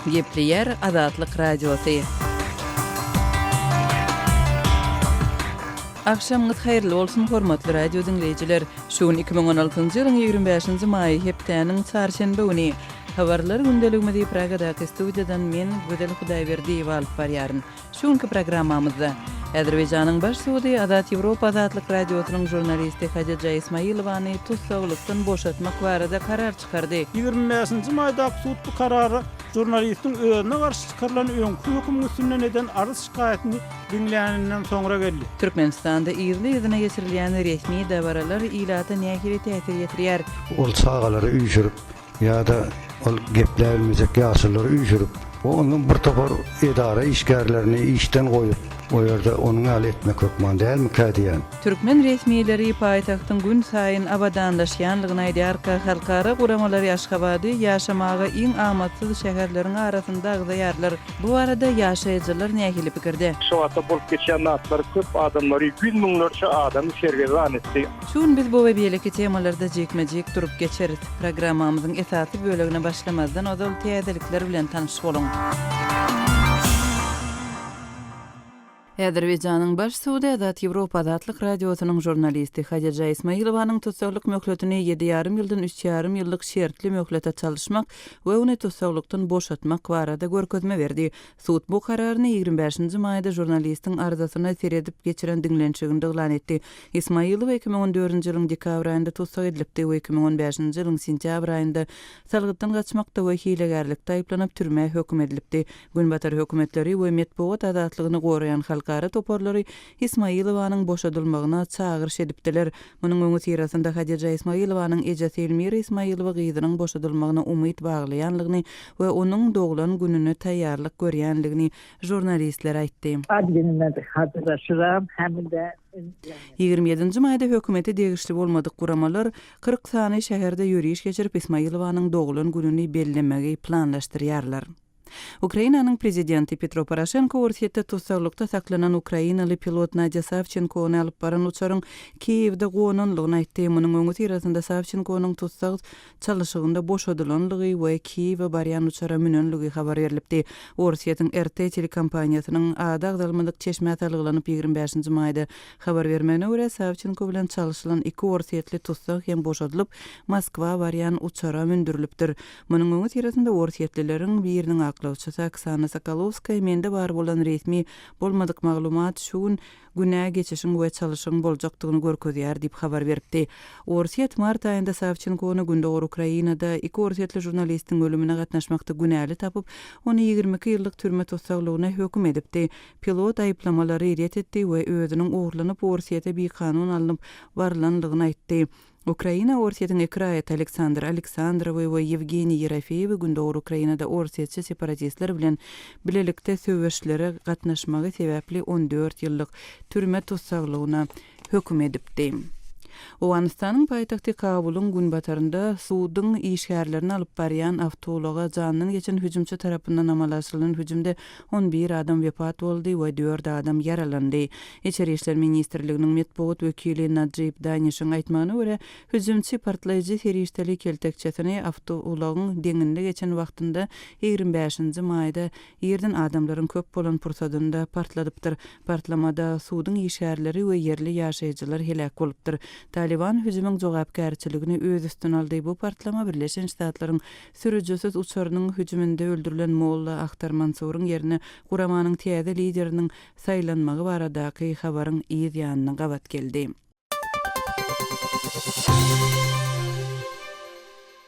Gepleýär Azatlyk Radiosy. Agşamyňyz haýyrly bolsun hormatly radio diňleýjiler! Şu gün iki müň on altynjy ýylyň ýigrimi bäşinji maýy hepdäniň çarşenbe güni. Habarlar gündeligimizi Pragadaky studiýadan men Gözel Hudaýberdiýewa alyp barýaryn. Şu günki programmamyzda Azerbaýjanyň baş sudy Azat Ýewropa Azatlyk Radiosynyň žurnalisti Hajeja Ismailowany tussaglykdan boşatmak barada karar çykardy. Ýigrimi bäşinji maýdaky sud bu karary žurnalistiň özüne garşy çykarylan öňki hökümiň üstünden eden arz-şikaýatyny diňläninden soňra geldi. Türkmenistanda yzly-yzyna geçirilýän resmi dabaralar ilata nähili täsir ýetirýär? Ol çagalary üýşürip, Ýa-da ol gepläbilmejek ýaşululary üýşürip, ondan bir topar edara işgärlerini işden goýup, o ýerde onuň ýaly etmek hökman dälmikä diýýän. Türkmen resmileri paýtagtyň günsaýyn abadanlaşýanlygyny aýdýarka, halkara guramalary Aşgabady ýaşamaga iň amatsyz şäherleriň arasynda agzaýarlar. Bu barada ýaşaýjylar nähili pikirde? Şuwagtda bolup geçýän zatlar köp adamlary, ýüz müňlerçe adamy sergezdan etdi. Şu gün biz bu we beýleki temalarda jikme-jik durup geçeris. Programmamyzyň esasy bölegine başlamazdan ozal täzelikler bilen tanyş boluň. Azerbaýjanyň Baş sudy Azat Ýewropa Azatlyk Radiosynyň žurnalisti Hadija Ismailowanyň tussaglyk möhletini ýedi ýarym ýyldan üç ýarym ýyllyk şertli möhlete çalyşmak we ony tussaglykdan boşatmak barada görkezme berdi. Sud bu kararyny ýigrimi bäşinji maýda žurnalistiň arzasyna seredip geçiren diňlenişiginde yglan etdi. Ismailowa iki müň on dördünji ýylyň dekabr aýynda tussag edilipdi we iki müň on bäşinji ýylyň sentýabr aýynda salgytdan gaçmakda we hilegärlikde aýyplanyp türmä höküm edilipdi. Günbatar hökümetleri we metbugat azatlygyny goraýan halkara toparlary Ismailowanyň boşadylmagyna çagyryş edipdiler, Munuň öňüsyrasynda Hadija Ismailowanyň ejesi Elmira Ismailowa gyzynyň boşadylmagyna umyt baglaýanlygyny we onuň doglan gününe taýýarlyk görýänligini žurnalistlere aýtdy. Ýigrimi ýedinji maýda hökümete degişli bolmadyk guramalar kyrk sany şäherde ýöriş geçirip, Ismailowanyň doglan gününi bellemegi planlaşdyrýarlar. Ukrainanyň prezidenti Petro Poroşenko Orsýetde tussaglykda saklanan ukrainaly pilot Nadýa Sawçenkony alyp baran uçaryň Kiýewde gonanlygyny aýtdy. Munuň öňüsyrasynda Sawçenkonyň tussag çalyşygynda boşadylanlygy we Kiýewe barýan uçara münenligi habar berlipdi. Orsýetiň RT telekompaniýasynyň ady agzalmadyk çeşmä salgylanyp ýigrimi bäşinji maýda habar bermegine görä, Sawçenko bilen çalyşylan iki orsýetli tussag hem boşadylyp, Moskwa barýan uçara mündürilipdir. Munuň öňüsyrasynda orsýetlileriň biriniň aklawçysy Oksana Sokolowskaýa mende bar bolan resmi bolmadyk maglumat şu gün Günä geçişiň we çalyşygyň boljakdygyny görkezýär diýip habar beripdi. Orsýet mart aýynda Sawçenkony Gündogar Ukrainada iki orsýetli žurnalistiň ölümine gatnaşmakda günäli tapyp, ony ýigrimi iki ýyllyk türme tussaglygyna höküm edipdi. Pilot aýyplamalary ret etdi we özüniň ogurlanyp Orsýete bikanun alnyp barylanlygyny aýtdy. Ukraina Orsýetiň iki raýaty Aleksandr Aleksandrowy we Ýewgeniý Ýerofeýewi Gündogar Ukrainada orsýetçi separatistler bilen bilelikde söweşlere gatnaşmagy sebäpli on dört ýyllyk türme tussaglygyna höküm edipdi. Owganystanyň paýtagty Kabulyň günbatarynda suduň işgärlerini alyp barýan awtoulaga jandan geçen hüjümçi tarapyndan amala aşyrylan hüjümde on bir adam wepat boldy we dört adam ýaralandy. Içeri işler ministrliginiň metbugat wekili Najib Danişiň aýtmagyna görä, hüjümçi partlaýjy serişdeli keltekçesini awtoulagyň deňinde geçen wagtynda ýigrimi bäşinji maýda irden adamlaryň köp bolan pursadynda partladypdyr. Partlamada suduň işgärleri we ýerli ýaşaýjylar heläk bolupdyr. Talyban hüjümiň jogapkärçiligini öz üstüne aldy, bu partlama Birleşen Ştatlaryň Sürüjisiz uçarynyň hüjüminde öldürilen Molla Ahtar Mansuryň ýerine guramanyň täze lideriniň saýlanmagy baradaky habaryň yz ýanyna gabat geldi.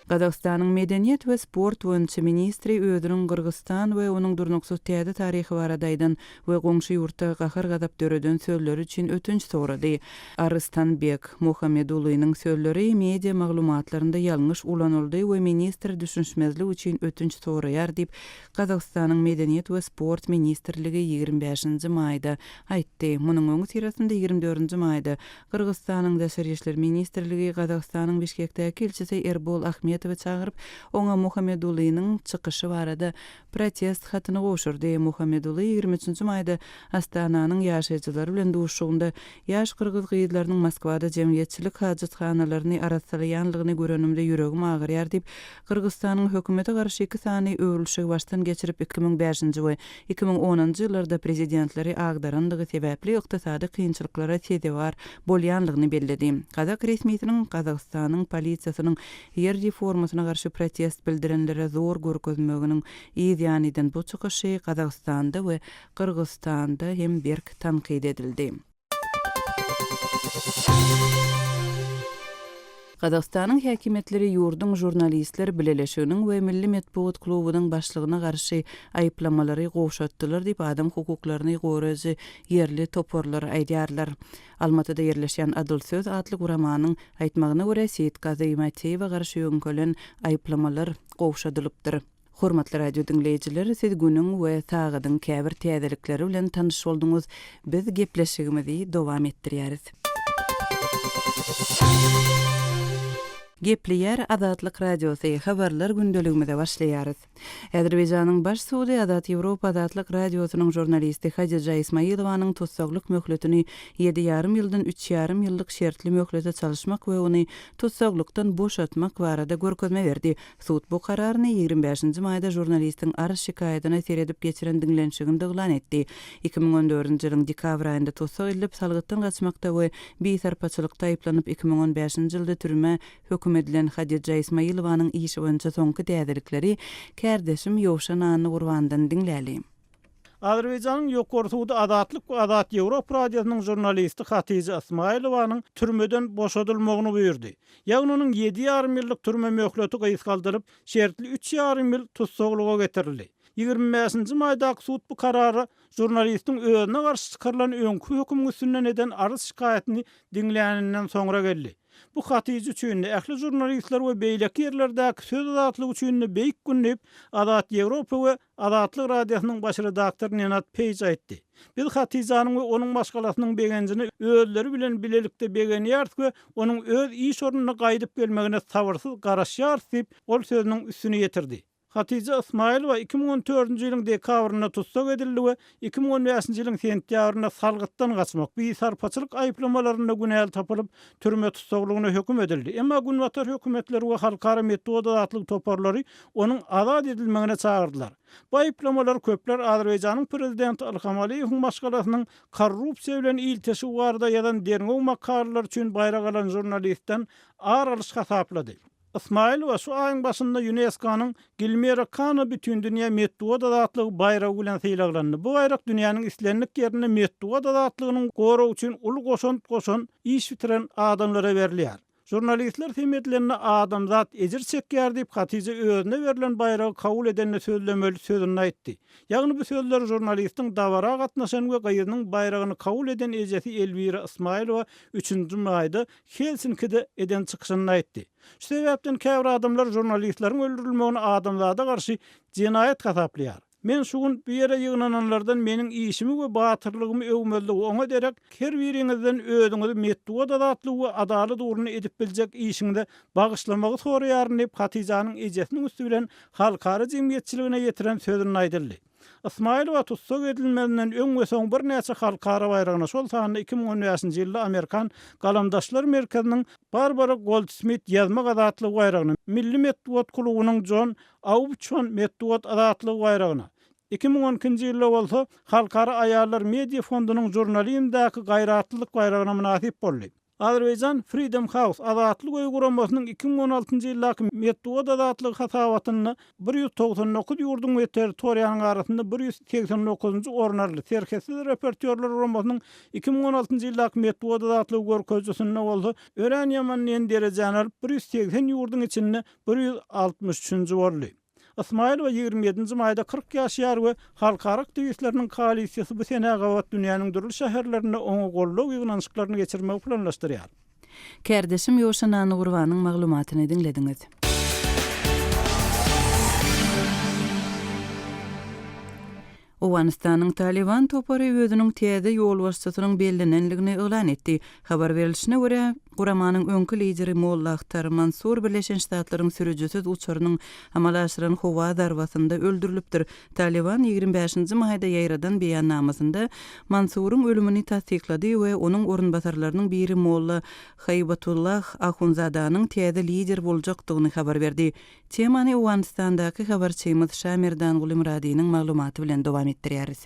Gazagystanyň medeniýet we sport boýunça ministri özüniň Gyrgyzystan we onuň durnuksyz täze taryhy barada aýdan we goňşy ýurtda gahar-gazap döreden sözleri üçin ötünç sorady. Aryslanbek Muhammedulynyň sözleri media maglumatlarynda ýalňyş ulanyldy we ministr düşünişmezlik üçin ötünç soraýar diýip, Gazagystanyň Medeniýet we sport ministrligi ýigrimi bäşinji maýda aýtdy. Munuň öňüsyrasynda ýigrimi dördünji maýda Gyrgyzystanyň Daşary işler ministrligi Gazagystanyň Bişkekdäki ilçisi Erbol Ahmetowy çagyryp, oňa Muhammedulynyň çykyşy barada protest hatyny gowşurdy. Muhammeduly ýigrimi üçünji maýda Astananyň ýaşaýjylary bilen duşuşygynda, Ýaş gyrgyz gyzlarynyň Moskwada jemgyýetçilik hajathanalaryny arassalaýanlygyny görenimde ýüregim agyrýar diýip, Gyrgyzstanyň hökümete garşy iki sany öwrülişigi başdan geçirip iki müň bäşinji we iki müň onunjy ýyllarda prezidentleri agdaranlygy sebäpli ykdysady kynçylyklara sezewar bolýanlygyny belledi. Gazak resmisiniň Gazagystanyň polisiýasynyň Ýer reformasyna garşy protest bildirenlere zor görkezmeginiň yz ýanydan bu çykyşy Gazagystanda we Gyrgyzystanda hem berk tankyt edildi. Gazagystanyň häkimiýetleri ýurduň žurnalistler bileleşiginiň we milli metbugat klubunyň başlygyna garşy aýyplamalary gowşatdylar diýip adam hukuklaryny goraýjy ýerli toparlar aýdýarlar. Almatyda ýerleşýän Adyl söz atly guramanyň aýtmagyna görä, Seýitgazy Mäteýewe garşy ýöňkelen aýyplamalar gowşadylypdyr. Hormatly radiodiňleýjiler, siz günüň we sagadyň käbir täzelikleri bilen tanyş bolduňyz. Biz gepleşigimizi dowam etdirýäris. Gepleýär Azatlyk Radiosy, habarlar gündeligimize başlaýarys. Azerbaýjanyň baş sudy Azat Ýewropa Azatlyk Radiosynyň žurnalisti Hadija Ismailowanyň tussaglyk möhletini ýedi ýarym ýyldan üç ýarym ýyllyk şertli möhlete çalyşmak we ony tussaglykdan boşatmak barada görkezme berdi. Sud bu kararyny ýigrimi bäşinji maýda žurnalistiň arz-şikaýadyna seredip geçiren diňlenişiginde yglan etdi. Iki müň on dördünji ýylyň dekabr aýynda tussag edilip, salgytdan gaçmakda we bisarpaçylykda aýyplanyp iki müň on bäşinji ýylda türmä Höküm edilen Hadija Ismailowanyň işi boýunça soňky täzelikleri kärdeşim Ýowşan Annagurbanydan diňläli. Azerbaýjanyň Ýokary sudy Azatlyk we Azat Ýewropa radiosynyň žurnalisti Hatija Ismailowanyň türmeden boşadylmagyny buýurdy. Ýagny onuň ýedi ýarym ýyllyk türme möhleti gysgaldylyp, şertli üç ýarym ýyl tussaglyga getirildi. Ýigrimi bäşinji maýdaky sud bu karara žurnalistiň özüne garşy çykarylan öňki hökümiň üstünden eden arz-şikaýatyny diňläninden soňra geldi. Bu Hatyja üçin-de, ähli žurnalistler we beýleki ýerlerdäki söz azatlygy üçin-de beýik gün diýip, Azat Ýewropa we Azatlyk Radiosynyň baş redaktory Nenad Peýj aýtdy. Biz Hatyjanyň we onuň maşgalasynyň begenjine özleri bilen bilelikde begenýäris we onuň öz iş ornuna gaýdyp gelmegine sabyrsyz garaşýarys diýip, ol sözüniň üstüni ýetirdi. Hatyja Ysmaýylowa iki müň on dördünji ýylyň dekabrynda tussag edildi we iki müň on bäşinji ýylyň sentýabrynda salgytdan gaçmak, bisarpaçylyk aýyplamalarynda günäli tapylyp, türme tussaglygyna höküm edildi. Emma günbatar hökümetleri we halkara metbugat-azatlyk toparlary onuň azat edilmegine çagyrdylar. Bu aýyplamalar köpler Azerbaýjanyň prezidenti Ilham Aliýewiň maşgalasynyň korrupsiýa bilen ilteşigi barada ýazan derňew makalalary üçin baýrak alan žurnalistden ar alyş hasaplady. Ysmaýylowa şu aýyň başynda ÝUNESKO-nyň Gilmira Kano Bütindünýä metbugat azatlygy baýragy bilen sylaglandy. Bu baýrak dünýäniň islendik ýerinde metbugat azatlygynyň goragy üçin uly goşant goşan, iş bitiren adamlara berilýär. Žurnalistler sem edilende adamzat ejir çekýär diýip, Hatije özüne berlen baýragy kabul edende sözlemeli sözünde aýtdy. Ýagny bu sözleri žurnalistiň dabara gatnaşan we gyzynyň baýragyny kabul eden ejesi Elwira Ysmaýylowa üçünji maýda Helsinkide eden çykyşynda aýtdy. Şu sebäpden käbir adamlar žurnalistleriň öldürilmegini adamzada garşy jenaýat hasaplaýar. Men şu gün bu ýere ýygnananlardan meniň işimi we batyrlygymy öwmezligi oňa derek, her biriňizden özüňizi metbugat azatlygy we adalat ugrunda edip biljek işiňize bagyşlamagy soraýaryn diýip Hatyjanyň ejesiniň üsti bilen halkara jemgyýetçiligine ýetiren sözünde aýdyldy. Ysmaýylowa tussag edilmezinden öň we soň birnäçe halkara baýragyna, şol sanda iki müň on bäşinji ýylda Amerikan Galamdaşlar merkeziniň Barbara Goldsmit ýazmak azatlygy baýragyna, Milli metbugat klubunyň Jon Aubçon metbugat azatlygy baýragyna, iki müň on ikinji ýylda bolsa Halkara aýallar media fondunyň Žurnalizmdäki gaýratlylyk baýragyna mynasyp boldy. Azerbaijan Freedom House, Azatlyk öýi guramasynyň iki müň on altynjy ýyldaky Metbugat azatlygy hasabatynda bir ýüz togsan dokuz ýurduň we territoriýanyň arasynda bir ýüz segsen dokuzynjy orun aldy, Serhetsiz reportýorlar guramasynyň iki müň on altynjy ýyldaky Metbugat azatlygy görkezijisinde bolsa örän ýaman nji derejäni alyp, bir ýüz segsen ýurduň içinde bir ýüz altmyş üçünji boldy. Ysmaýylowa ýigrimi ýedinji maýda kyrk ýaşaýar we halkara aktiwistleriniň koalisiýasy bu senä gabat dünýäniň dürli şäherlerinde oňa goldaw ýygnanyşyklaryny geçirmegi planlaşdyrýar. Kärdeşim Ýoşa Nanygurbanyň maglumatyny diňlediňiz. Owganystanyň Talyban topary özüniň täze ýolbaşçysynyň bellenendigini yglan etdi. Habar berilişine görä, guramanyň öňki lideri Molla Akhtar Mansur Birleşen Ştatlaryň sürüjisiz uçarynyň amala aşyran howa zarbasynda öldürilipdir. Talyban ýigrimi bäşinji maýda ýaýradan beýannamasynda Mansuryň ölümini tassyklady we onuň orunbasarlarynyň biri Molla Haýbatullah Ahunzadanyň täze lider boljakdygyny habar berdi. Temany Owganystandaky habarçymyz Şamerdan Gulymyradynyň maglumaty bilen dowam etdirýäris.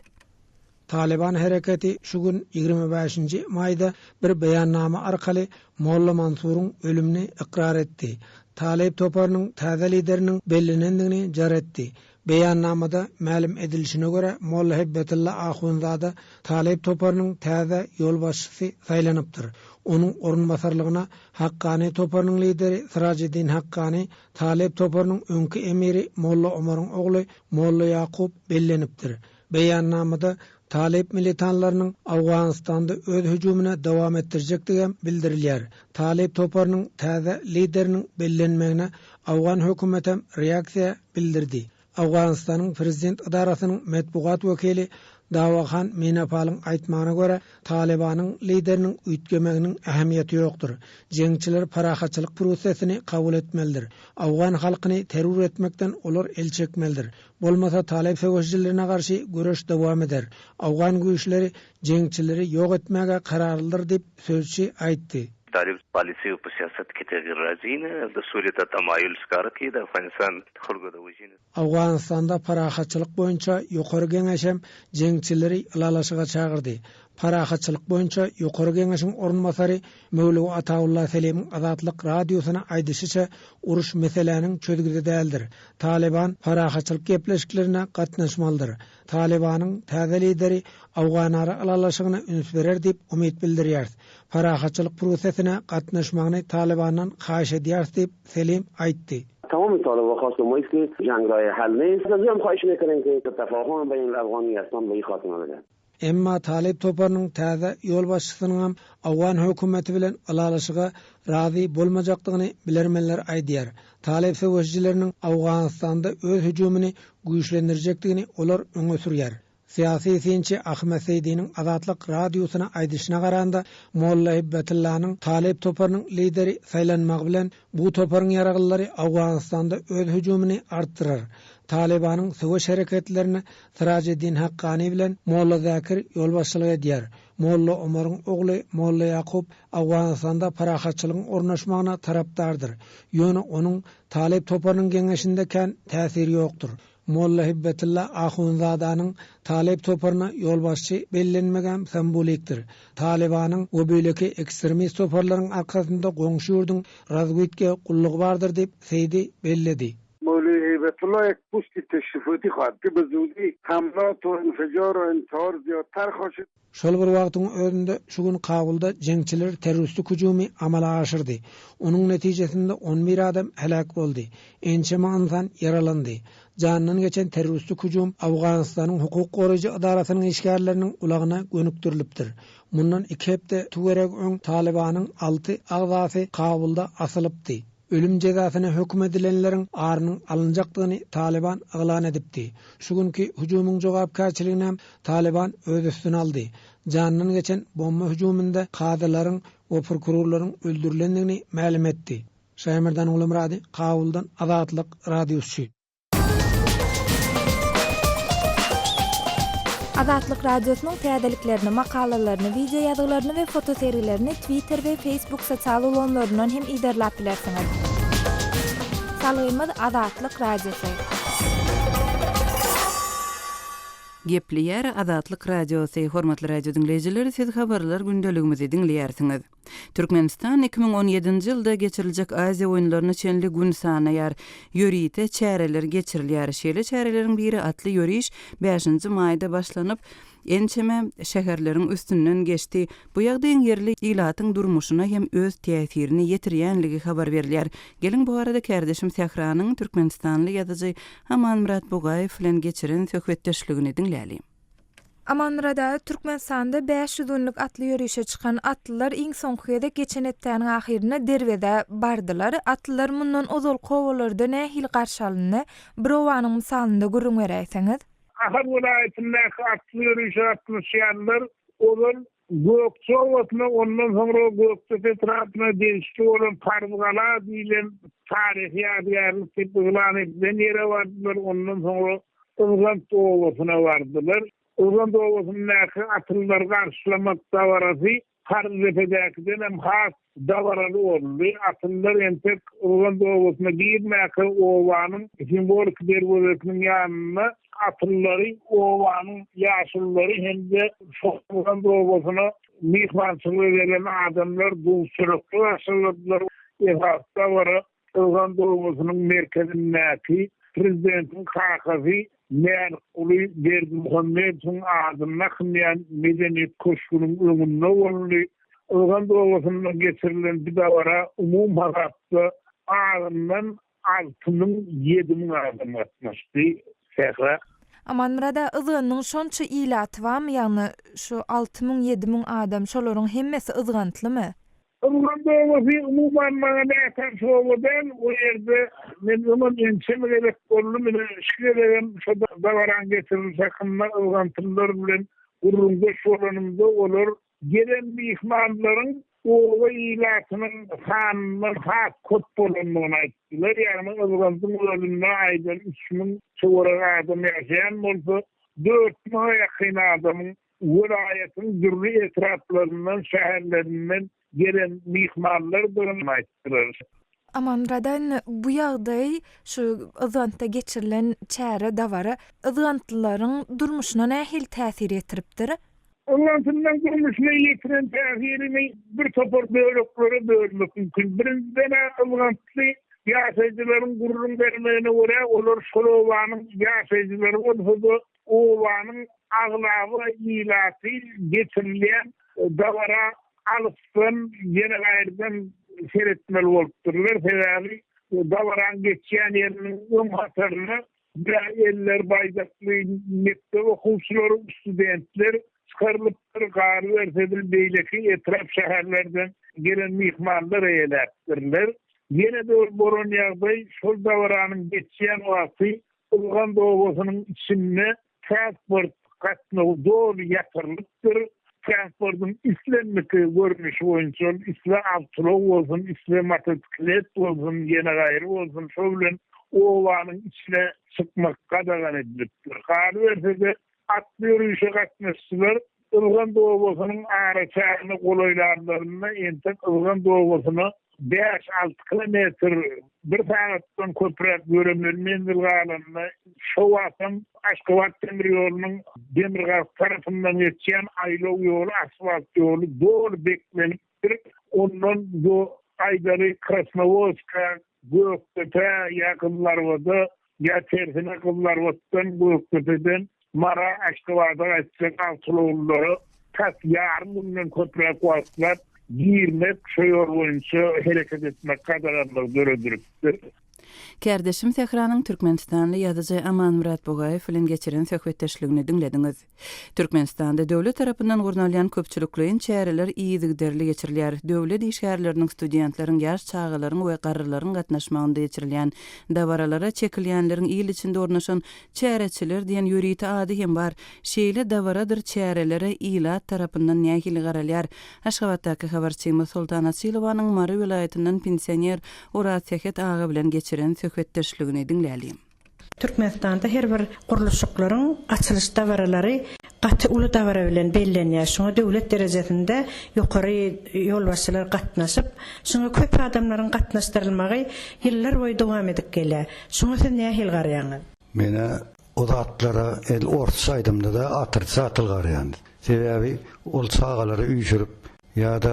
Talyban hereketi şu gün, ýigrimi bäşinji maýda bir beýannama arkaly Molla Mansuryň ölümini ykrar etdi. Talyb toparynyň täze lideriniň bellenendigini jar etdi. Beýannamada mälim edilişine görä, Mollahebbetilla ahunzada Talyp toparynyň täze ýolbaşçysy saýlanypdyr. Onuň orunbasarlygyna Hakkany toparynyň lideri Syrajeddin Hakkany, Talyp toparynyň öňki emiri Molla Omaryň ogly Molla Ýakup bellenipdir. Beýannamada Talyp militanlarynyň Owganystanda öz hüjümini dowam etdirjekdigi hem bildirilýär. Talyp toparynyň täze lideriniň bellenmegine owgan hökümeti hem reaksiýa bildirdi. Owganystanyň prezident edarasynyň metbugat wekili Dawahan Minapalyň aýtmagyna görä, Talybanyň lideriniň üýtgemeginiň ähmiýeti ýokdur. Jeňçiler parahatçylyk prosesini kabul etmelidir. Owgan halkyny terror etmekden olar el çekmelidir. Bolmasa Taleb söweşijilerine garşy göreş dowam eder. Awgan güýçleri jeňçileri ýok etmäge kararlydyr diýip, sözçi aýtdy. Talib polisiýa wypuščassat ketagirražyny do surýeta tamajul škarki da Afganistan hurgadawžyny. Awganystanda parahatçylyk boýunça ýokary geňeş hem jeňçileri ylalaşyga çagyrdy. Parahatçylyk boýunça ýokary geňeşiň orunbasary Möwlüw Atawulla Selimiň Azatlyk Radiosyna aýdyşyça, uruş meseläniň çözgüdi däldir. Talyban parahatçylyk gepleşiklerine gatnaşmalydyr. Talybanyň täze lideri Awganara ylalaşygyna üns berer diýip umyt bildirýäris. Parahatçylyk prosesine gatnaşmagyny Talybandan haýyş edýäris diýip, Selim aýtdy. Atawulla Talyba hasda myhly, janraýy hälni, Sözem haýyşyny eteniňki, Talyban beýnil-afgan ýasam beýik hatyna bilen. Emma talyp toparynyň täze ýolbaşçysynyňam owgan hökümeti bilen ylalaşyga razy bolmajakdygyny bilermenler aýdýar. Talyp söweşijileriniň Owganystanda öz hüjümini güýçlendirjekdigini olar öňe sürýär. Syýasy synçy Ahmet Seýdiniň Azatlyk Radiosyna aýdyşyna garanda, Molla Hibbetyllanyň talyp toparynyň lideri saýlanmagy bilen bu toparyň ýaraglylary Owganystanda öz hüjümini artdyrar. Talybanyň söweş hereketlerine Syrajeddin Hakkani bilen Molla Zakir ýolbaşçylyk edýär. Molla Omaryň ogly Molla Ýakup Owganystanda parahatçylygyň ornaşmagyna tarapdardyr. Ýöne onuň Talyp toparynyň geňeşinde kän täsiri ýokdur. Molla Hibbetylla Ahunzadanyň Talyp toparyna ýolbaşçy bellenmegem sambolikdir. Talybanyň we beýleki ekstremist toparlaryň arkasynda goňşy ýurduň razwidke gullugy bardyr diýip Seýdi belledi. Mowlüý Heýbetulla Ekbusti teşrifati hatty buzudi tamla torin fejoro in torzio tarhoşi. Şol bir wagtyň özünde şu gün Kabulda jeňçiler terroristik hüjümi amala aşyrdy. Onuň netijesinde on bir adam heläk boldy, ençeme ynsan ýaralandy. Jandan geçen terroristik hüjüm Owganystanyň hukuk goraýjy edarasynyň işgärleriniň ulagyna gönükdirilipdir. Mundan iki hepde töweregi öň Talybanyň alty agzasy Kabulda asylypdy. Ölüm jezasyna höküm edilenleriň arynyň alynjakdygyny Talyban yglan edipdi. Şu günki hüjümiň jogapkärçiliginem Talyban öz üstüne aldy. Janyndan geçen bomba hüjüminde kazylaryň we prokurorlaryň öldürilendigini mälim etdi. Şaýmyrdan Gulumyrady, Kabuldan, Azatlyk Radiosy. Azatlyk Radiosynyň täzeliklerini, makalalaryny, wideoýazgylaryny we fotosergilerini Twitter we Facebook sosial ulgamlaryndan hem yzarlap bilersiňiz. Salgymyz Azatlyk Radiosy. Gepleýär Azatlyk Radiosy, hormatly radio diňleýjiler, siz habarlar gündeligimizi diňleýärsiňiz. Türkmenistan iki müň on ýedinji ýylda geçiriljek Aziýa oýunlaryna çenli gün sanaýar. Ýörite çäreler geçirilýär. Şeýle çäreleriň biri atly ýöriş bäşinji maýda başlanyp, ençeme şäherleriň üstünden geçdi. Bu ýagdaýyň ýerli ilatyň durmuşyna hem öz täsirini ýetirýänligi habar berilýär. Geliň, bu barada kärdeşim Sähranyň türkmenistanly ýazyjy Amanmyrat Bugaýew bilen geçiren söhbetdeşligini diňläliň. Amanmyrat aga Türkmenistanda bäş ýüz günlük atly ýörişe çykan atlylar iň soňky gezek geçen hepdäniň ahyrynda derwezä bardylar. Atlylar mundan ozalky obalarda nähili garşy alyndy? Bir obanyň mysalynda gürrüň beräýseňiz. Ahal welaýatyndaky atly ýörişe gatnaşýanlar ozal Gökje obasyna, ondan soňra Gökdepe etrapyna degişli bolan Parzgala diýlen taryhy ýadygärlik diýip yglan edilen ýere bardylar, ondan soňra Yzgant obasyna bardylar. Yzgant obasyndaky atlylar garşylamak dabarasy Parzdepedekidenem has Dabaraly boldy. Atlylar entek Rugand obasyna girmäkä obanyň simwoliki derwezesiniň ýanynda atlylary obanyň ýaşululary hem-de şol Rugand obasyna myhmançylyga gelen adamlar duz-çörek bilen garşyladylar. Esasy dabara Owgan obasynyň merkezindäki prezidentiň kakasy Mälikguly Berdimuhamedowyň adyny dakynýan Medeniýet köşgüniň öňünde boldy. Owgan obasynda geçirilen bu dabara umumhasapda azyndan alty müň, ýedi müň adam gatnaşdy. Sähra. Amanmyrada yzganynyň şonça ilaty barmy, ýagny şu alty müň, ýedi müň adam, şolaryň hemmesi yzgantlymy? Öňler böwürsy umuman maňa nätanyş oba däl, o ýerde men öňem ençeme gezek boldum, ine, şu gezegem şo dabaraň getirlişi hakynda yzgantymlar bilen gürrüňdeş bolanymda, olar gelen myhmanlaryň oba ilatynyň sanyndan has köp bolandygyny aýtdylar. Ýagny, yzgandyň özünde aýdan üç müň töweregi adam ýaşaýan bolsa, dört müňe ýakyn adamyň welaýatyň dürli etraplaryndan, şäherlerinden gelen myhmanlardygyny aýtdylar. Amanradan bu ýagdaý şu Yzgantda geçirilen çäre, dabara yzgantlylaryň durmuşyna nähili täsir ýetiripdir? Yzgantlylaryň durmuşyna ýetiren täsirini bir topar böleklere bölmek mümkin. Birinjiden-ä, yzgantly ýaşaýjylaryň gürrüň bermegine görä, olar şol obanyň ýaşaýjylary bolsa-da, Obanyň aglaba ilaty geçirilýän dabara alysdan, ýeregaýyrdan seretmeli bolupdyrlar. Sebäbi dabaraň geçýän ýeriniň öň hatarynda bir eller baýdakly mekdep okuwçylary, studentler çykarylypdyr. Galyberse-de, beýleki etrap-şäherlerden gelen myhmanlar eýeläpdirler. Ýene bir bolan ýagdaý, şol dabaranyň geçýän wagty Ilgand obasynyň içinde transport gatnawy doly ýatyrylypdyr. Transportyň islendik görnüşi boýunça ol isle awtoulag bolsun, isle motosiklet bolsun, ýene gaýry bolsun, şo bilen obanyň içine çykmak gadagan edilipdir. Galyberse-de, Atly ýörişe gatnaşyjylar Ylgan dobasynyň araçägine golaýlanlarynda entek Ylgan dobasyna bäş-alty kilometr bir sagatdan köpräk ýöremeli menzil galanda, şo wagtam Aşgabat demir ýolunyň demirgazyk tarapyndan geçýän aýlaw ýoly, asfalt ýoly doly beklenip, Biz ondan bu aýdary Krasnowodska, Gökdepe, ýa Gyzlarwada, ýa tersine Gyzlarwatdan, Gökdepeden Mara, Aşgabada gaýtjak awtoulaglylara tas ýarym günden köpräk wagtlap girmek, şo ýol boýunça hereket etmek gadaganlygy döredilipdir. Kärdeşim Sähranyň türkmenistanly ýazyjy Amanmyrat Bugaýew bilen geçiren söhbetdeşligini diňlediňiz. Türkmenistanda döwlet tarapyndan gurnalýan köpçülikleýin çäreler yzygiderli geçirilýär, döwlet işgärleriniň, studentleriň, ýaş çagalaryň we garrylaryň gatnaşmagynda geçirilýän dabaralara çekilýänleriň il içinde ornaşan Çäreçiler diýen ýörite ady hem bar. Şeýle dabaradyr çärelere ilat tarapyndan nähili garalýar? Aşgabatdaky habarçymyz Soltan Açylowanyň Mary welaýatyndan pensioner Oraz Sähet aga bilen geçiren söhbetdeşligini diňläliň. Türkmenistanda her bir gurluşyklaryň açylyş dabaralary gaty uly dabara bilen bellenýär. Şuňa döwlet derejesinde ýokary ýolbaşçylar gatnaşyp, şuňa köp adamlaryň gatnaşdyrylmagy ýyllar boýy dowam edip gelýär. Şuňa siz nähili garaýaňyz? Men-ä o zatlara el orsça aýdamda-da atricatill garaýan. Sebäbi ol çagalary üýşürip, Ýa-da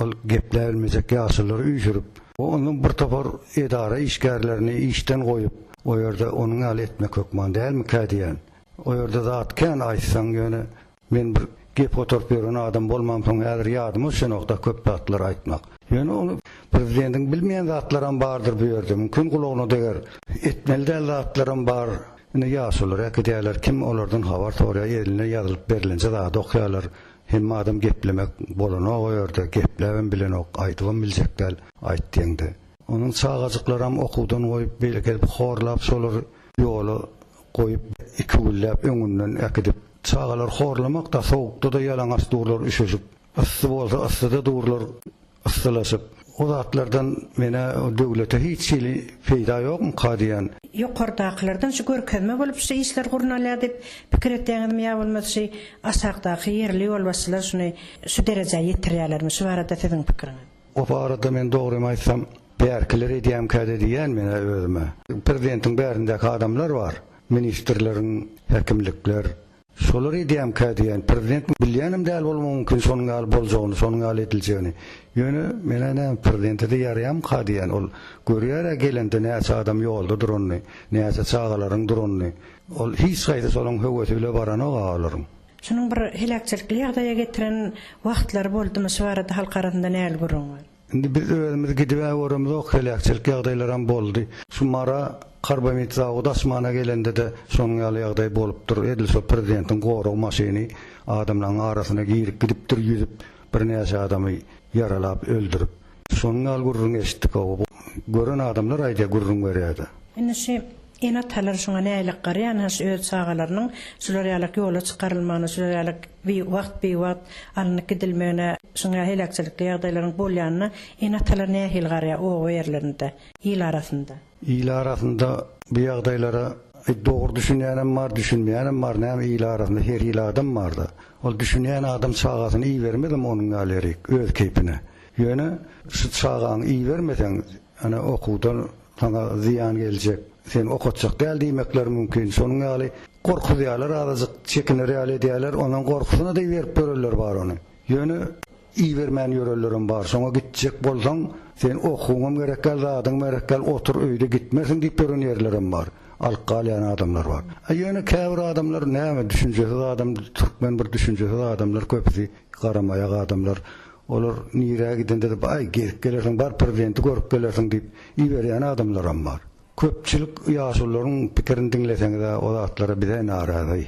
ol gepläbilmejek ýaşululary üýşürip. Onuň bir topar edara işgärlerini işden goýup. O ýerde onuň ýaly etmek hökman dälmikä diýýän. O ýerde zat kän aýtsaň, ýöne men bir gep gotaryp ýören adam bolmamsoň häzir ýadyma düşenok-da köp zatlar aýtmak. Ýöne ony prezidentiň bilmeýän zatlaram bardyr bu ýerde, mümkin gulagyna deger. Etmeli däl zatlaram bar. Indi ýaşular äkidýärler, kim olardan habar soraýar, eline ýazylyp berlenje zady okýarlar. Hemme adam geplemek bolanok o ýerde, gepläbem bilenok, aýdybam biljek däl, aýt diýeňde. Onuň çagajyklaram okuwdan goýup, beýle gelip horlap, şolary ýola goýup, iki günläp öňünden äkidip, çagalar horlamak-da, sowukda-da ýalaňaç durlar, üşüşip, yssy bolsa, yssyda durlar. Yssylaşyp. O zatlardan menä döwlete hiç hili peýda ýokmyka diýýän. Ýokardakylardan şu görkezme bolup şu işler gurnalýar diýip pikir etýäňizmi ýa bolmasa şi aşakdaky ýerli ýolbaşçylar şuny şu derejä ýetirýälermi şu barada siziň pikiriňiz. O barada men dogrymy aýtsam bärkiler edýämkäde diýýän menä özüme. Prezidentiň bärindäki adamlar bar, ministrleriň, häkimlikler. Şolary edýämkä diýen, prezident bilýänem däl bolmagy mümkin şonuň ýaly boljagyny, şonuň ýaly ediljegini. Ýöne men-ä näme prezidente-de ýaraýamyka diýen, ol görýär-ä gelende näçe adam ýolda duranyny, näçe çagalaryň duranyny. Ol hiç haýsy şonuň höwesi bile baranok-a olaryň. Şunuň bir heläkçilikli ýagdaýa getiren wagtlary boldumy şu barada halk arasynda näl gürrüň bar? Indi biz özümiz gidibä göremizok heläkçilik ýagdaýlaram boldy. Şu Mara karbamid zawody açmana gelendede şonuň ýaly ýagdaý bolupdyr. Edil şo prezidentiň gorag maşyny adamlaň arasyna girip gidipdir ýüzüp birnäçe adamy ýaralap öldürip. Şonuň ýaly gürrüň eşitdik oba bu gören adamlar aýdýa gürrüň berýädä. Indi şi Ene-atalar şuňa nälik garýan-a, şu öz çagalarynyň şular ýalak ýola çykarylmagyna, şular ýalak bi wagt bi wagt alnyp gidilmegine, şuňa heläkçilikli ýagdaýlaryň bolýanyna ene-atalar nähili garýar oba ýerlerinde, il arasynda? Il arasynda bu ýagdaýlara e dogry düşünýänem bar, düşünmeýänem bar, näme il arasynda her hili adam bar-da. Ol düşünýän adam çagasyny ibermezem onuň ýaly ýerik, öz keýpine. Ýöne şu çagaňy ibermeseň, ene okuwdan Saňa zyýan geljek, seni okatjak däl diýmekleri mümkin. Şonuň ýaly gorkuzýarlar azajyk, çekinir ýaly edýärler, onuň gorkusyna da iberip ýörenler bar ony. Ýöne ibermän ýörenlerem bar. Şoňa gitjek bolsaň, sen okuwyňam gerekgäl, zadyňam gerekgäl, otur öýde gitmersiň diýip ýören ýerlerem bar. Alyp galýan adamlar bar. A ýöne käbir adamlar näme, düşünjesiz adam, türkmen bir düşünjesiz adamlar köpüsi, garamaýak adamlar. Olar nirä gidende-de baý gezip gelersiň, bar prezidenti görüp gelersiň diýip iberýän adamlaram bar. Köpçülik ýaşulularyň pikirini diňleseňiz-ä o zatlara biz-ä narazy.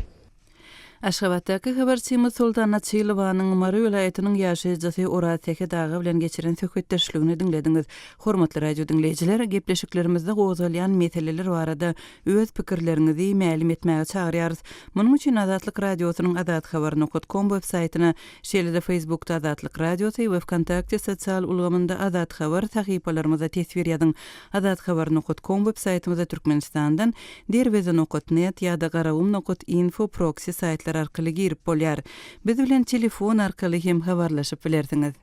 Aşgabatdaky habarçymyz Soltan Açylowanyň Mary welaýatynyň ýaşaýjysy Oraz Sähet aga bilen geçiren söhbetdeşligini diňlediňiz. Hormatly radio diňleýjiler, gepleşiklerimizde gozgalýan meseleler barada öz pikirleriňizi mälim etmäge çagyrýarys. Munuň üçin Azatlyk Radiosynyň azathabar nokot kom web saýtyna Şeýle-de Facebookda Azatlyk Radiosy we Wkontakte sosial ulgamynda Azat Habar sahypalarymyzda teswir ýazyň. Azat Habar nokat kom web saýtymyzda Türkmenistandan Derweze nokat net ýa-da Garagum nokat info proksi saýtlar arkaly girip bolýar. Biz bilen telefon arkaly hem habarlaşyp bilersiňiz.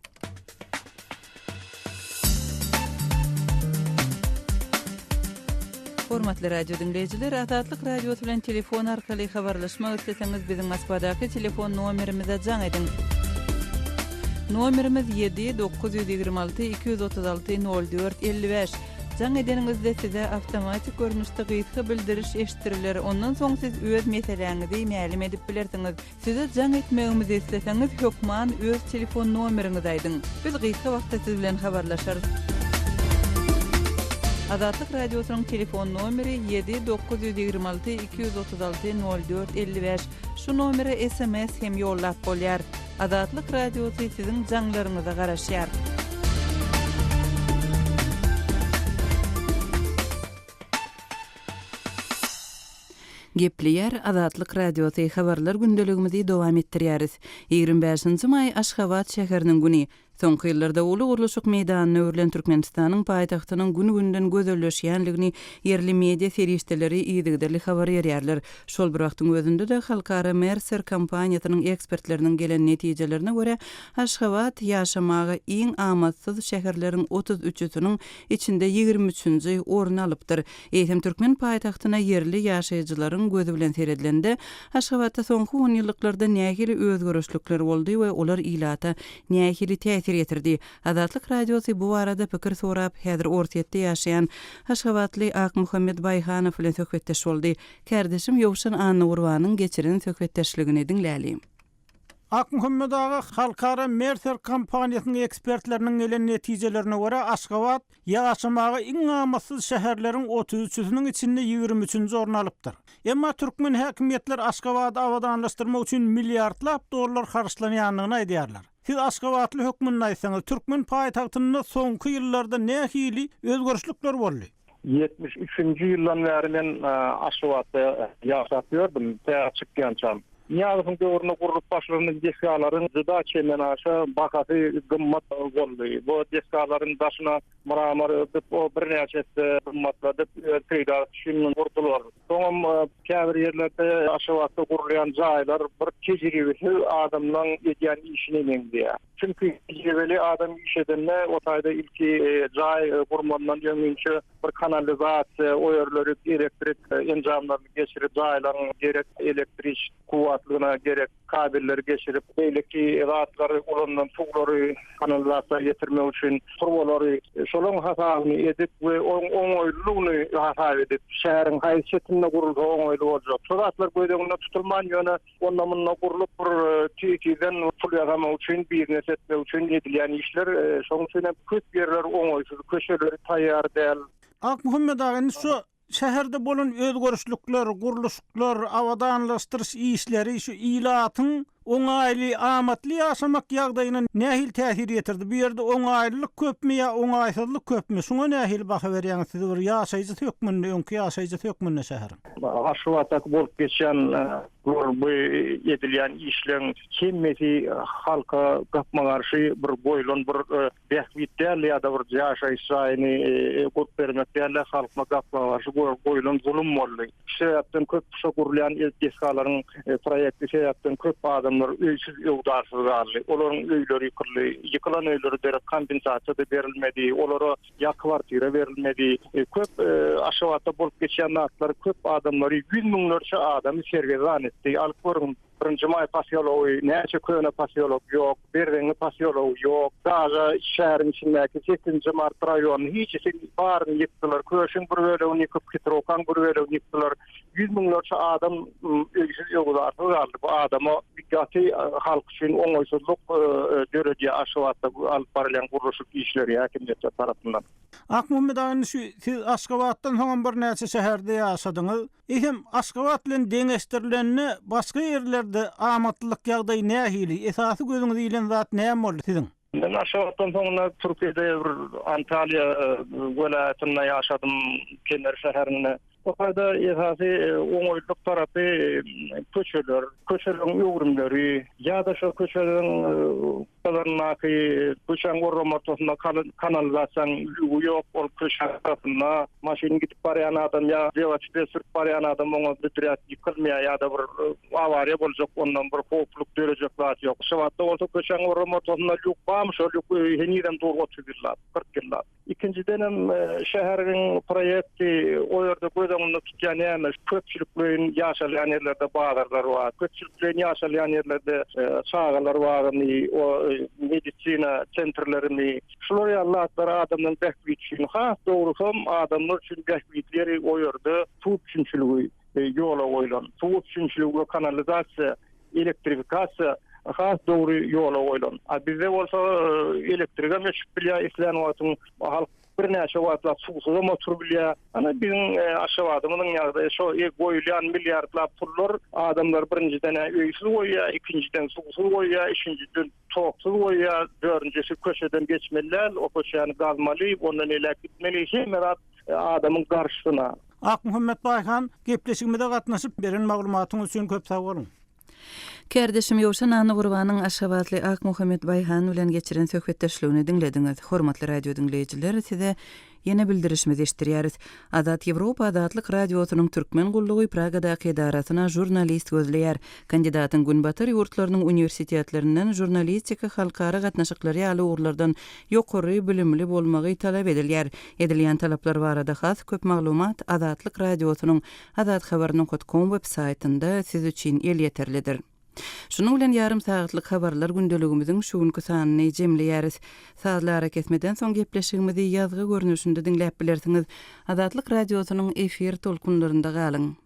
Hormatly radio diňleýjiler, Azatlyk Radiosy bilen telefon arkaly habarlaşmak isleseňiz, biziň Moskwadaky telefon nomerimize jaň ediň. Nomerimiz 7 926 236 04 55. Jaň edeniňizde size awtomatik görnüşde gysga bildiriş eşitdiriler, ondan soň siz öz meseläňizi mälim edip bilersiňiz. Size jaň etmegimizi isleseňiz hökman öz telefon nomeriňizi aýdyň. Biz gysga wagtda siz bilen habarlaşarys. Azatlyk Radiosynyň telefon nomeri ýedi dokuz ýüz ýigrimi alty iki ýüz otuz alty nol dört elli bäş. Şu nomere sms hem ýollap bolýar. Azatlyk Radiosy siziň jaňlaryňyza garaşýar. Gepleýär, Azatlyk Radiosy, Habarlar gündeligimizi dowam etdirýäris. Ýigrimi bäşinji maý, Aşgabat şäheriniň güni. Soňky ýyllarda uly gurluşyk meýdanyna öwrülen Türkmenistanyň paýtagtynyň gün-günden gözelleşýändigini ýerli media serişdeleri yzygiderli habar berýärler. Şol bir wagtyň özünde-de, halkara Mercer kompaniýasynyň ekspertleriniň gelen netijelerine görä, Aşgabat ýaşamaga iň amatsyz şäherleriň otuz üçüsiniň içinde ýigrimi üçünji orny alypdyr. Eýsem türkmen paýtagtyna ýerli ýaşaýjylaryň gözi bilen seredilende, Aşgabatda soňky onýyllyklarda nähili özgerişlikler boldy we olar ilata nähili täsir ýetirdi? Azatlyk Radiosy bu barada pikir sorap, häzir Orsýetde ýaşaýan aşgabatly Akmuhammet Baýhanow bilen söhbetdeş boldy. Kärdeşim Ýowşan Annagurbanyň geçiren söhbetdeşligini diňläli. Akmuhammet aga, halkara Mercer kompaniýasynyň ekspertleriniň gelen netijelerine görä, Aşgabat ýaşamaga iň amatsyz şäherleriň otuz üçüsiniň içinde ýigrimi üçünji orny alypdyr. Emma türkmen häkimiýetler Aşgabady abadanlaşdyrmak üçin milliardlap dollar harçlanýandygyny aýdýarlar. Siz aşgabatly hökmünde aýtsaňyz, türkmen paýtagtynda soňky ýyllarda nähili özgerişlikler boldy? Ýetmiş üçünji ýyldan bäri men Aşgabatda ýaşap ýördüm, tä çykýançam. Nyýazowyň döwründe gurlup başlanan desgalaryň juda çendenaşa bahasy gymmat boldy. Bu desgalaryň daşyna mramor örtüp, o birnäçe esse gymmatladyp, öz peýdasy üçin gurdular. Soňam käbir ýerlerde Aşgabatda gurulýan jaýlar bir tejribesiz adamlaň edýän işine meňzeýär. Çünki tejribeli adam iş edende o taýda ilki jaý gurmandan öň inçe bir kanalizasiýa, o ýerleri elektrik enjamlaryny geçirip, jaýlaryň gerek elektrik kuwwatlygyna gerek kabelleri geçirip, beýleki zatlary ulanylan suwlary kanalizasiýa getirmek üçin turbalary şolaryň hasabyny edip we onuň oňaýlylygyny hasap edip, şäheriň haýsy çetinde gurulsa oňaýly boljak. Şo zatlar göz öňünde tutulman ýöne. onda-munda gurlup bir tizden pul ýasamak üçin, biznes etmek üçin edilýän işler. Şonuň üçin hem köp ýerler oňaýsyz, köçeleri taýýar däl. Akmuhammet aga, indi şu şäherde bolan özgerişlikler, gurluşyklar, abadanlaşdyryş işleri şu ilatyň oňaýly, amatly ýaşamak ýagdaýyna nähili täsir ýetirdi? Bu ýerde oňaýlylyk köpmi ýa oňaýsyzlyk köpmi? Şuňa nähili baha berýäňiz siz bir ýaşaýjysy hökmünde, öňki ýaşaýjysy hökmünde şäheriň? Aşgabatdaky bolup geçýän bu edilýän işleň hemmesi halka gapma garşy bir goýlan bir bähbit däldi ýa-da bir ýaşaýyş jaýyny gurup bermek däldi, halkma gapma garşy goýlan zulum boldy. Şu sebäpden köp şo gurulýan desgalaryň proýekti sebäpden köp adamlar öýsüz öwdarsyz galdy. Olaryň öýleri ýykyldy. Ýykylan öýlere derek kompensasiýa-da berilmedi. Olara ýa kwartira berilmedi. Köp Aşgabatda bolup geçýän zatlar köp adamlary, ýüz müňlerçe adamy sergezdan etdi. Alyp görüň, Birinji maý posýology, näçe köne posýolok ýok, Berzeňňi posýology ýok, daga şäheriň içindäki sekizinji mart raýonyny hijisi baryny ýykdylar, Köşüň bir bölegini ýykyp, Hitrokaň bir bölegini ýykdylar. ýüz müňlerçe adam öýsüz-öwzarsyz galdy. Bu adama gaty halk üçin oňaýsyzlyk döredýär Aşgabatda alyp barylýan gurluşyk işleri häkimiýetler tarapyndan. Akmuhammet aga, indi şu siz Aşgabatdan soňam birnäçe şäherde ýaşadyňyz. Eýsem, Aşgabat bilen deňeşdirilende başga ýerlerde amatlylyk ýagdaýy nähili? Esasy gözüňizi ilen zat näme boldy siziň? Men Aşgabatdan soňra Türkiýede bir Antalýa welaýatynda ýaşadym, Kemer şäherinde. Bu taýda esasy oňaýlylyk tarapy köçeler, köçeleriň öwrümleri ýa-da şo köçeleriň kyryndaky köçäň orrama ortasynda kalan kanalizasiýanyň lüwi ýok, ol köçäň gyrasynda maşyn gidip barýan adam ýa welosiped sürüp barýan adam oňa büdräp ýykylmaýar ýa-da bir Awariýa boljak, ondan bir howplyk dörejek zat ýok. Şewatda bolsa köçäň orram ortasynda lýuk barmy, şol lýuk öýi henizem dur otuz ýyllap, kyrk ýyllap. Ikinjidenem, şäheriň proýekti o ýerde göz öňünde tutýan näme, köpçülikleýin ýaşalýan ýerlerde bazarlar bar, köpçülikleýin ýaşalýan ýerlerde çagalar bagymy, o medisina çentrlerimi, şular ýaly zatlar adamlaryň bähbidi üçin, has dogrusam adamlar üçin bähbitli ýeri o ýerde suw üpjünçiligi. ýola goýlan. Suw üpjünçiligi we kanalizasiýa, elektrifikasiýa has dogry ýola goýlan. A bizde bolsa elektrigem öçüp bilýär islän wagtyň. Halk birnäçe wagtlap suwsuzam oturyp bilýär. Ine biziň Aşgabadymyzyň ýagdaýy şo. Goýulýan milliardlap pullar adamlary birinjiden-ä öýsüz goýýar, ikinjiden suwsuz goýýar, üçünjiden toksuz goýýar, dördünjisi köçeden geçmeli däl, o köçäni gazmaly, ondan elek gitmeli, hemme zat adamyň garşysyna. Akmuhammet Baýhan, gepleşigimize gatnaşyp, beren maglumatyňyz üçin köp sag boluň! Kärdeşim Ýowşan Nannygurbanyň aşgabatly Akmuhammet Baýhan bilen geçiren söhbetdeşligini diňlediňiz. Hormatly radiodiňleýjiler, size ýene bildirişimizi eşitdirýäris. Azat Ýewropa Azatlyk Radiosynyň Türkmen gullugy Pragadaky edarasyna žurnalist gözleýär. Kandidatyň Günbatar ýurtlarynyň uniwersitetlerinden žurnalistika, halkara gatnaşyklary ýaly ugurlardan ýokary bilimli bolmagy talap edilýär. Edilýän talaplar barada has köp maglumat Azatlyk Radiosynyň Azathabar nokat kom web saýtynda siz üçin elýeterlidir. Şunuň bilen ýarym sagatlyk habarlar gündeligimiziň şu günki sanyny jemleýäris. Sazly arakesmeden soň gepleşigimizi ýazgy görnüşinde diňläp bilersiňiz. Azatlyk Radiosynyň efir tolkunlarynda galyň!